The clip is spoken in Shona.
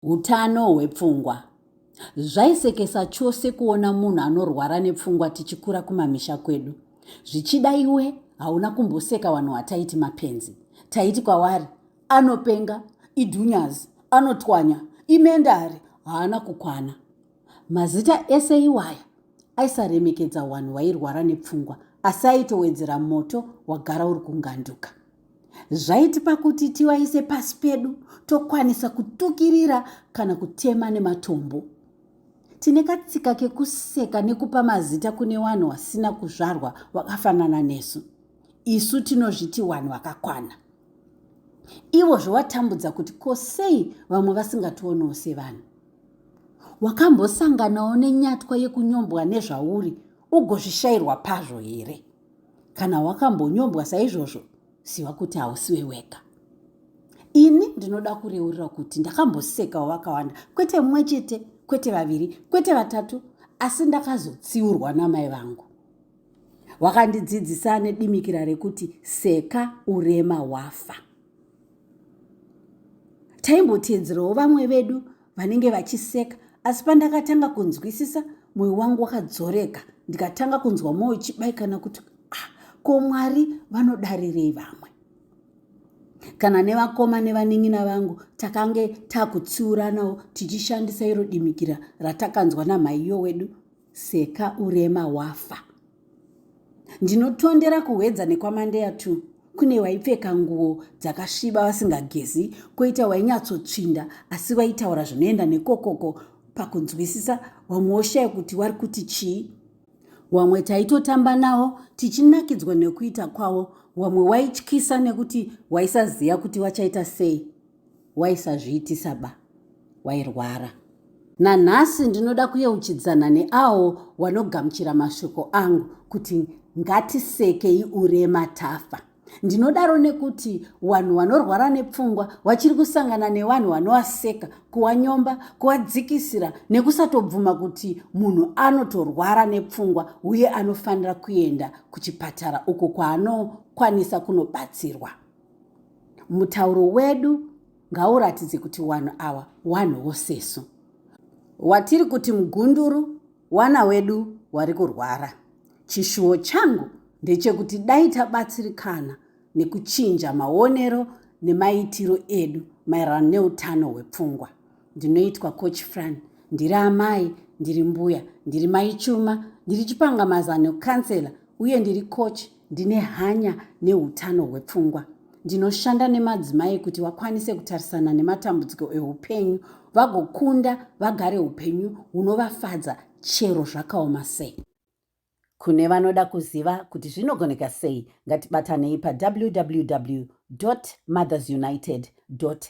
Utano hwepfungwa. Zvaisekesa chose kuona munhu anorwara nepfungwa tichikura kumamisha kwedu. Zvichida iwe hauna kumboseka vanhu wataiti mapenzi. Taiti kwavari anopenga, idhunyazi, anotwanya, imendari, haana kukwana. Mazita ese iwaya aisaremekedza wanhu wairwara nepfungwa asi aitowedzera moto wagara uri kunganduka. zvaitipa kuti tivaise pasi pedu tokwanisa kutukirira kana kutema nematombo tine katsika kekuseka nekupa mazita kune vanhu vasina kuzvarwa vakafanana nesu isu tinozviti vanhu vakakwana ivo zvovatambudza kuti ko sei vamwe vasingationewo sevanhu wakambosanganawo nenyatwa yekunyombwa nezvauri ugozvishayirwa pazvo here Kana wakambonyombwa saizvozvo, ziva kuti hausiwe wega. Ini ndinoda kureurira kuti ndakambosekawo vakawanda, kwete mumwe chete, kwete vaviri, kwete vatatu, asi ndakazotsiurwa namai vangu. Wakandidzidzisa nedimikira rekuti seka urema wafa. taimboteedzerawo vamwe vedu vanenge vachiseka asi pandakatanga kunzwisisa mwoyo wangu wakadzoreka ndikatanga kunzwa mwoyo chibaikana kuti ah, ko mwari vanodarirei vamwe kana nevakoma nevanin'ina vangu takange takutsiuranawo tichishandisa iro dimikira ratakanzwa namhaiyo wedu Seka urema wafa. Ndinotondera kuhwedza nekwamandeya tu kune waipfeka nguo dzakasviba vasingagezi koita wainyatsotsvinda asi waitaura zvinoenda nekokoko pakunzwisisa wamwe woshaya kuti wari kuti chii wamwe taitotamba nawo tichinakidzwa nekuita kwavo wamwe waityisa nekuti waisaziva kuti wachaita sei waisazviitisa ba wairwara. Nanhasi ndinoda kuyeuchidzana neawo wanogamuchira mashoko angu kuti ngatisekei urema tafa. Ndinodaro nekuti wanhu wanorwara nepfungwa wachiri kusangana newanhu wanowaseka, kuwanyomba, kuwadzikisira nekusatobvuma kuti munhu anotorwara nepfungwa uye anofanira kuenda kuchipatara uko kwaanokwanisa kunobatsirwa. mutauro wedu ngauratidze kuti wanhu awa wanhu wosesu watiri kuti mugunduru wana wedu wari kurwara chishuwo changu ndechekuti dai tabatsirikana nekuchinja maonero nemaitiro edu maererano neutano hwepfungwa ndinoitwa coach fran ndiri amai ndiri mbuya ndiri maichuma ndiri chipangamazano kansela uye ndiri coach Ndine hanya neutano hwepfungwa. Ndinoshanda nemadzimai kuti vakwanise kutarisana nematambudziko eupenyu vagokunda vagare upenyu hunovafadza chero zvakaoma sei. Kune vanoda kuziva kuti zvinogoneka sei, ngatibatanei pawww mothersunitedca.